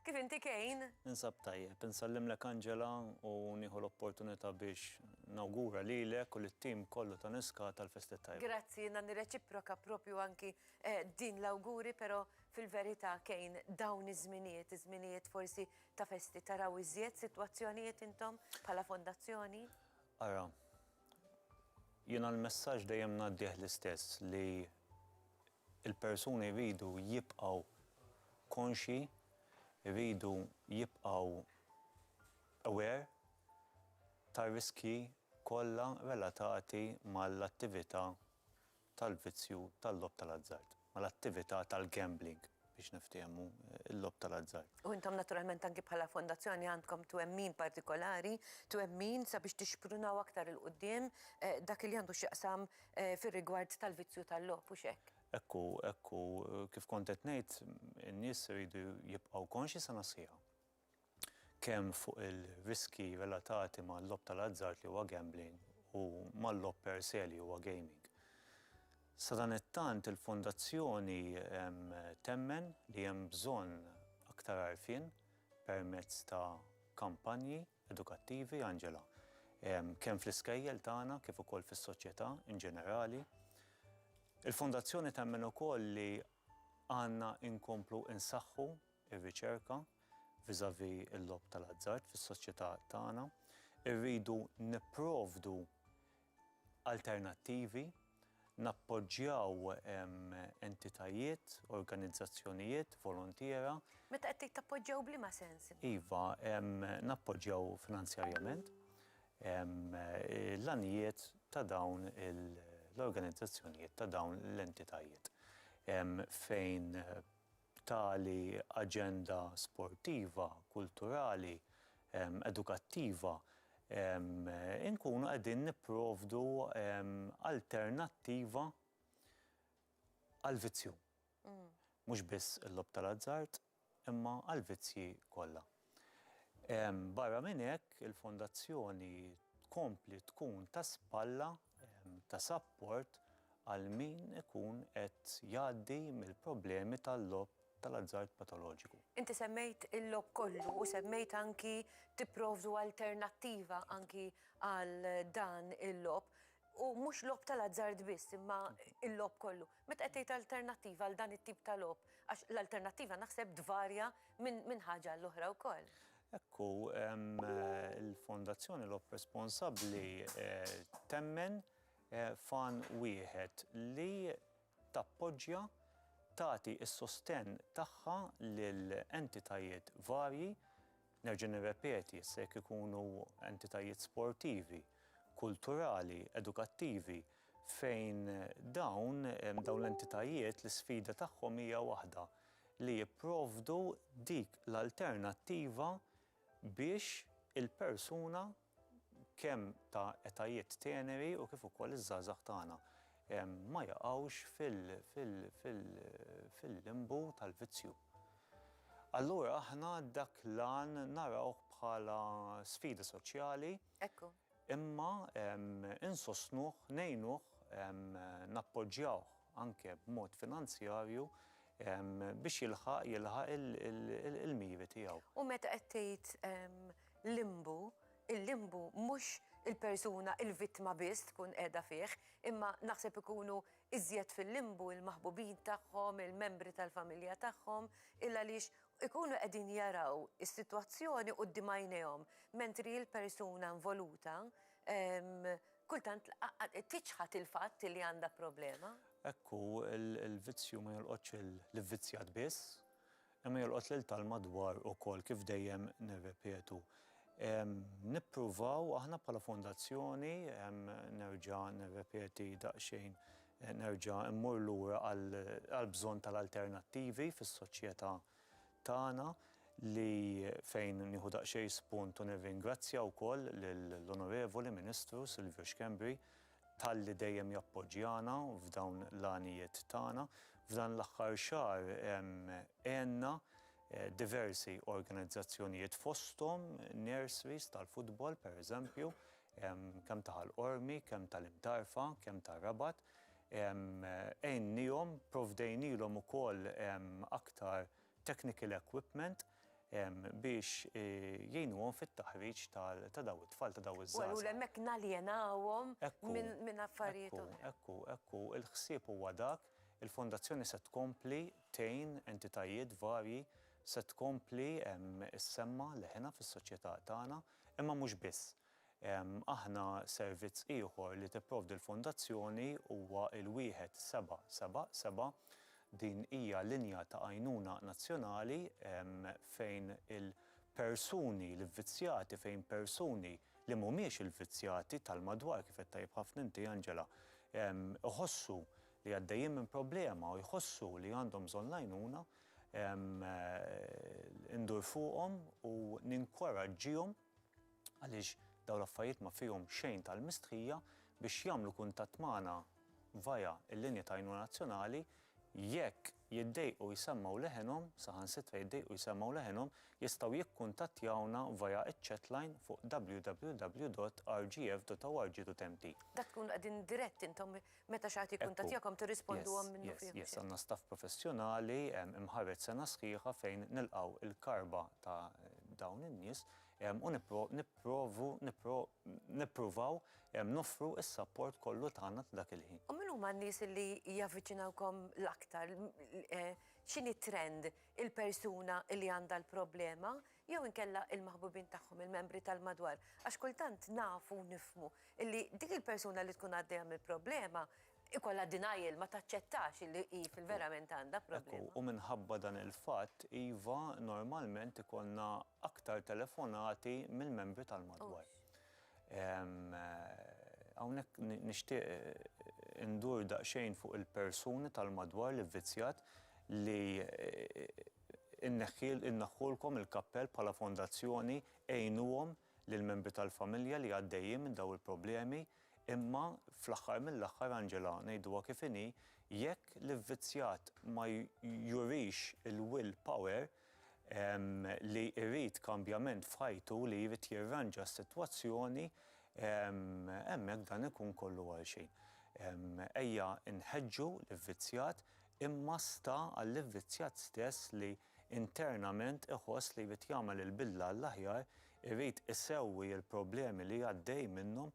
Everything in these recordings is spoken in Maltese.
Kif inti Kane? Ninsab tajjeb. Insallimlek Angela u nieħu l-opportunità biex nawgura lilek u lit-tim kollu ta' Niscata l-festi t-tajba. Grazzi, jiena nirreċiproka proprju anki din l-awguri però fil-verità Kane dawn iż-żminijiet, iż-żminijiet forsi ta' festi taraw iżjed sitwazzjonijiet intom bħala fondazzjoni? Ara, jiena l-messaġġ dejjem ngħaddih l-istess li il-persuni jridu jibqgħu konxji, jridu jibqgħu aware tar-riskji kollha relatati mal-attività tal-vizzju tal-logħob tal-azzard, mal-attività tal-gambling. biex niftiehmu, il-logħob tal-azzard. U intom naturalment anki bħala fondazzjoni għandkom twemmin partikolari, twemmin sabiex tixprunaw aktar 'il quddiem dak li għandu x'jaqsam fir-rigward tal-vizzju tal-logħob, hux hekk? Hekk hu, hekk hu. Kif kont qed ngħid, in-nies iridu jibqgħu konxji sa nasliha. kemm fuq il-riskji relatati mal-logħob tal-azzard li huwa gambling u mal-logħob per se li huwa gaming. Sadanittant il-Fondazzjoni temmen li hemm bżonn aktar għarfien permezz ta' kampanji edukattivi, Angela, kemm fl-iskejjel tagħna kif ukoll fis-soċjetà in ġenerali. Il-Fondazzjoni temmen ukoll li għandna inkomplu insaħħu ir-riċerka vis-à-vis il-logħob tal-azzard fis-soċjetà tagħna. Irridu nipprovdu alternattivi, nappoġġjaw entitajiet, organizzazzjonijiet volontiera. Meta qed tgħid tappoġġjaw b'liema sens? Iva, nappoġġjaw finanzjarjament l-għanijiet ta' dawn l-organizzazzjonijiet, ta' dawn l-entitajiet fejn b'tali aġenda sportiva, kulturali, edukattiva, inkunu qegħdin nipprovdu alternattiva għall-vizzju. Mhux biss il-logħob tal-azzard, imma għall-vizzji kollha. Barra minn hekk, il-Fondazzjoni tkompli tkun ta' spalla ta' sapport għal min ikun qed jgħaddi mill-problemi tal-logħob tal-azzard patoloġiku. Inti semmejt il-logħob kollu u semmejt anki tipprovdu alternattiva anki għal dan il-logħob. U mhux logħob tal-azzard biss imma l-logħob kollu. Meta qed tgħid alternattiva għal dan it-tip ta' logħob, għax l-alternattiva naħseb tvarja minn ħaġa għall-oħra wkoll. Hekk hu, il-Fondazzjoni Logħob Responsabbli temmen f'għan wieħed li tappoġġja, tagħti s-sostenn tagħha lil entitajiet varji Nerġa' nirrepeti, issa jekk ikunu entitajiet sportivi, kulturali, edukattivi, fejn dawn, dawn l-entitajiet l-isfida tagħhom hija waħda, li jipprovdu dik l-alternattiva biex il-persuna, kemm ta' etajiet teneri u kif ukoll iż-żgħażagħ tagħna ma jaqgħux fil-limbu tal-vizzju. Allura aħna dak l-għan narawh bħala sfida soċjali imma insostnuh, ngħinuh, nappoġġjawh anke b'mod finanzjarju biex jilħaq il-miri tiegħu. U meta qed tgħid Limbu, il-limbu mhux il-persuna, il-vittma biss tkun qiegħda fih, imma naħseb ikunu iżjed fil-limbu il-maħbubin tagħhom, il-membri tal-familja tagħhom, il-għaliex ikunu qegħdin jaraw is-sitwazzjoni quddiem għajnejhom, mentri l-persuna involuta kultant tiċħad il-fatt li għandha problema. Hekk hu, il-vizzju ma jolqotx lill-ivvizzjat biss, Imma jolqot lil tal-madwar ukoll, kif dejjem nirrepetu. Nippruvaw aħna bħala fondazzjoni, nerġa' nirrepeti daqsxejn, nerġa' mmur lura għall-bżonn tal-alternattivi fis-soċjetà tagħna li fejn nieħu daqsxejn spunt u nirringrazzja wkoll lill-Onorevoli Ministru Silvio Schembri talli dejjem jappoġġjana f'dawn l-għanijiet tagħna. F'dan l-aħħar xahar għenna diversi organizzazzjonijiet fosthom nurseries tal-futbol pereżempju kemm ta' Ħal Qormi, kemm tal-Imtarfa, kemm tar-Rabat. Għinniehom, provdejnielhom ukoll aktar technical equipment. biex jgħinuhom fit-taħriġ ta' dawn it-tfal, ta' dawn iż-żgħażagħ. U allura hemmhekk naljenawhom minn affarijiet oħra. Ekku, ekku, ekku, il-ħsieb huwa dak, il-Fondazzjoni se tkompli tgħin entitajiet varji, se tkompli ssemma' leħinha fis-soċjetà tagħna, imma mhux biss. Aħna servizz ieħor li tipprovdi l-Fondazzjoni huwa l-1777. Din hija linja ta' għajnuna nazzjonali fejn il-persuni l-ivvizzjati, fejn persuni li mhumiex il-vizzjati tal-madwar, kif għedt tajjeb ħafna inti Angela, iħossu li għaddejjin minn problema u jħossu li għandhom bżonn l-għajnuna, indur fuqhom u ninkoraġġihom. għaliex dawn l-affarijiet ma fihom xejn tal-mistħija biex jagħmlu kuntatt magħna via l-linja ta' għajnuna nazzjonali jekk jiddejqu jsemmgħu leħenhom, saħansitra jiddejqu jsemmgħu leħenhom, jistgħu jikkuntattjawna via ċ-chatline fuq www.rgf.org.mt. Dak tkunu qegħdin dirett intom Meta xi ħadd jikkuntattjakom tirrisponduhom minnufih? Yes, yes, għandna staff professjonali imħarreġ sena sħiħa fejn nilqgħu l-karba ta' dawn in-nies u nipprovu nippruvaw noffru s-sapport kollu tagħna ta' dak il-ħin. U min huma n-nies li javviċinawkom l-aktar? X'inhi t-trend? Il-persuna li għandha l-problema jew inkella il-maħbubin tagħhom, il-membri tal-madwar, għax kultant nafu u nifhmu illi dik il-persuna li tkun għaddejja minn problema ikollha denial, ma taċċettax illi hi fil-verament għandha problema. Ekku, u minħabba dan il-fatt, iva, normalment ikollna aktar telefonati mill-membri tal-madwar. Hawnhekk nixtieq indur daqsxejn fuq il-persuni tal-madwar li vvizzjat li Inneħħiel, inneħħulkom il-kappell bħala fondazzjoni, għinuhom lill-membri tal-familja li għaddejjin minn dawn il-problemi, imma fl-aħħar mill-aħħar, Angela, ngħiduha kif inhi, jekk l-ivvizzjat ma jurix il-will power li jrid kambjament f'ħajtu, li jrid jirranġa s-sitwazzjoni, hemmhekk dan ikun kollu għalxejn. Ejja nħeġġu l-ivvizzjat imma sta għall-ivvizzjat stess li internament iħoss li jrid jagħmel il-bidla għall-aħjar, irid isewwi l-problemi li għaddej minnhom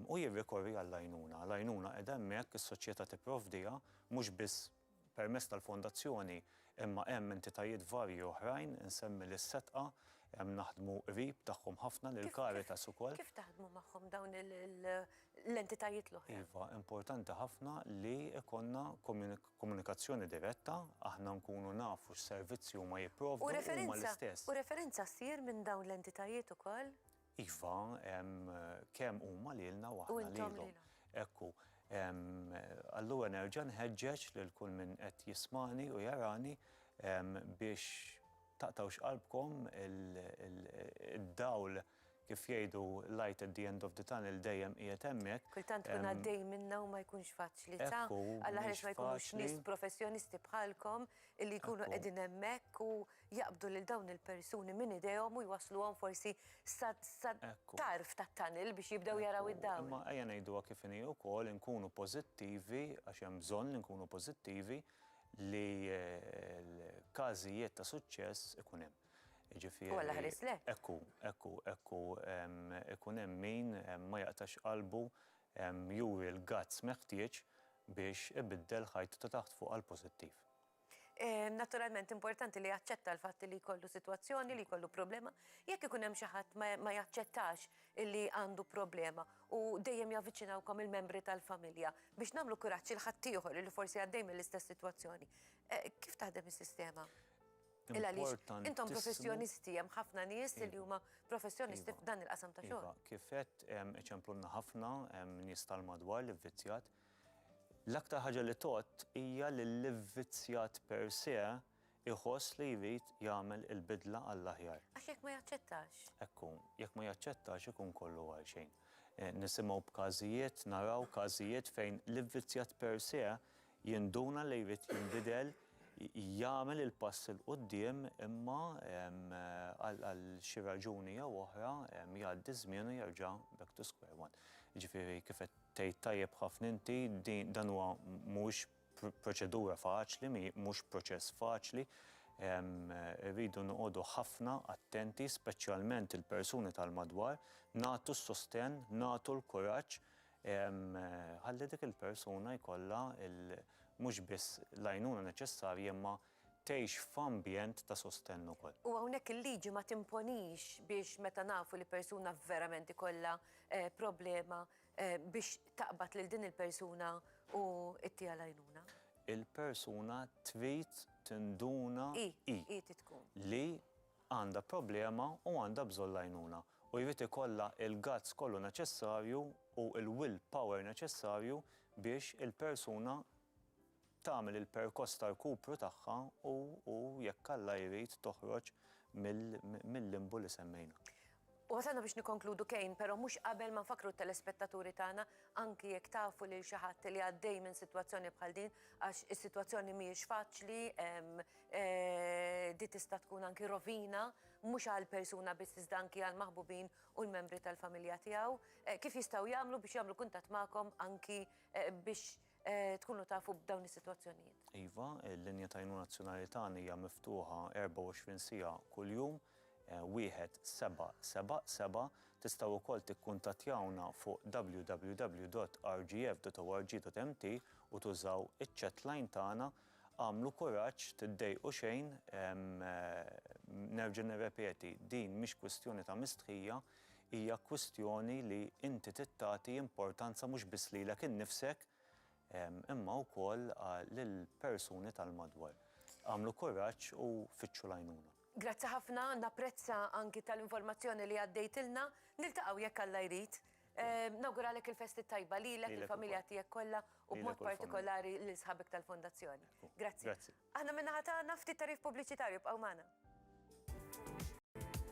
u jirrikorri għall-għajnuna. L-għajnuna qiegħda hemmhekk, is-soċjetà tipprovdiha, mhux biss permezz tal-Fondazzjoni imma hemm entitajiet varji oħrajn, insemmi lis-Setqa, naħdmu qrib tagħhom ħafna, lill-Caritas ukoll. Kif taħdmu magħhom dawn l-entitajiet l-oħra. Iva, importanti ħafna li jkollna komunikazzjoni diretta, aħna nkunu nafu x'servizzi huma jipprovdu huma l-istess. U referenza ssir minn dawn l-entitajiet ukoll? Iva, kemm huma lilna u aħna lilhom. Ekku, allura nerġa' nħeġġeġ lil kull min qed jismagħni u jarani biex taqtgħux qalbkom id-dawl Kif jgħidu l-light at the end of the tunnel dejjem qiegħed hemmhekk. Kultant tkun għaddej minnha u ma jkunx faċli, ta? Hekk hu, mhux faċli. Alla jħares ma jkunux nies professjonisti bħalkom illi jkunu qegħdin hemmhekk u jaqbdu lil dawn il-persuni minn idejhom u jwassluhom forsi sat-tarf tat-tunnel biex jibdew jaraw id-dawl. Imma ejja ngħiduha kif inhi wkoll, inkunu pożittivi, għax hemm bżonn li nkunu pożittivi, li l-każijiet ta' suċċess ikun hemm. Jiġifieri. U Alla ħarislek. Hekk hu, hekk hu, hekk hu. Ikun hemm min ma jaqtax qalbu juri l-guts meħtieġ biex ibiddel ħajtu ta' taħt fuq għal pożittiv. Naturalment importanti li jaċċetta l-fatt li jkollu sitwazzjoni, li jkollu problema. Jekk ikun hemm xi ħadd ma jaċċettax li għandu problema u dejjem javviċinawkom il-membri tal-familja biex nagħmlu kuraġġ lil ħaddieħor li forsi għaddej mill-istess sitwazzjoni. Kif taħdem is-sistema? Il għaliex intom professjonisti, hemm ħafna nies li huma professjonisti f'dan il-qasam ta' xogħol. Iva, kif għedt hemm iċemplulna ħafna, hemm nies tal-madwar li vvizzjat. L-aktar ħaġa li tgħodd hija li l-ivvizzjat per se iħoss li jrid jagħmel il-bidla għall-aħjar. Għax jekk ma jaċċettax. Ekku, jekk ma jaċċettax ikun kollu għal xejn. Nisimgħu b'każijiet, naraw każijiet fejn l-ivvizzjat per se Jinduna li jrid jinbidel, jagħmel il-pass 'il quddiem imma għal xi raġuni jew oħra jgħaddi ż-żmien u jerġa' back to square one. Jiġifieri kif qed tgħid tajjeb ħafna inti dan huwa mhuwiex proċedura faċli, mhux proċess faċli, irridu noqogħdu ħafna attenti speċjalment il-persuni tal-madwar, nagħtu s-sostenn, nagħtu l-kuraġġ, Ħalli dik il-persuna jkollha mhux biss l-għajnuna neċessarja imma tgħix f'ambjent ta' sostenn ukoll. U hawnhekk il-liġi ma timponix biex meta nafu li persuna verament ikollha problema biex taqbad lil din il-persuna u ttiha l-għajnuna? Il-persuna trid tinduna hi li għandha problema u għandha bżonn l-għajnuna u jrid ikollha l-guts kollu neċessarju u l-will power neċessarju biex il-persuna tagħmel il-perkoss ta' rkupru tagħha u jekk Alla jrid toħroġ mill-limbu li semmejna. U wasalna biex nikkonkludu Kane, pero mhux qabel ma nfakkru t-telespettaturi tagħna, anki jekk tafu lil xi ħadd li għaddej minn sitwazzjoni bħal din, għax is-sitwazzjoni mhijiex faċli, di tista' tkun anki rovina, mhux għall-persuna biss iżda anki għall-maħbubin u l-membri tal-familja tiegħu, kif jistgħu jagħmlu biex jagħmlu kuntatt magħkom anki biex tkunu tafu b'dawn is-sitwazzjonijiet. Iva, il-linja ta' għajnuna nazzjonali tagħna hija miftuħa 24 siegħa kuljum, wieħed seba' seba' seba' tistgħu wkoll tikkuntattjawna fuq www.rgf.org.mt u tużaw iċ-chatline tagħna Agħmlu kuraġġ, tiddejqu xejn, nerġa' nirrepeti, din mhix kwistjoni ta' mistħija, Hija kwistjoni li inti trid tagħti importanza mhux biss lilek innifsek imma wkoll lill-persuni tal-madwar. Agħmlu kuraġġ u fittxu l-għajnuna. Grazzi ħafna, napprezza anki tal-informazzjoni li għaddejtilna. Niltaqgħu jekk Alla jrid. Nawguralek il-festi t-tajba lilek, lill-familja tiegħek kollha u b'mod partikolari lil sħabek tal-Fondazzjoni. Grazzi. Aħna min-naħa tagħna ftit tagħrif pubbliċitarju, ibqgħu magħna.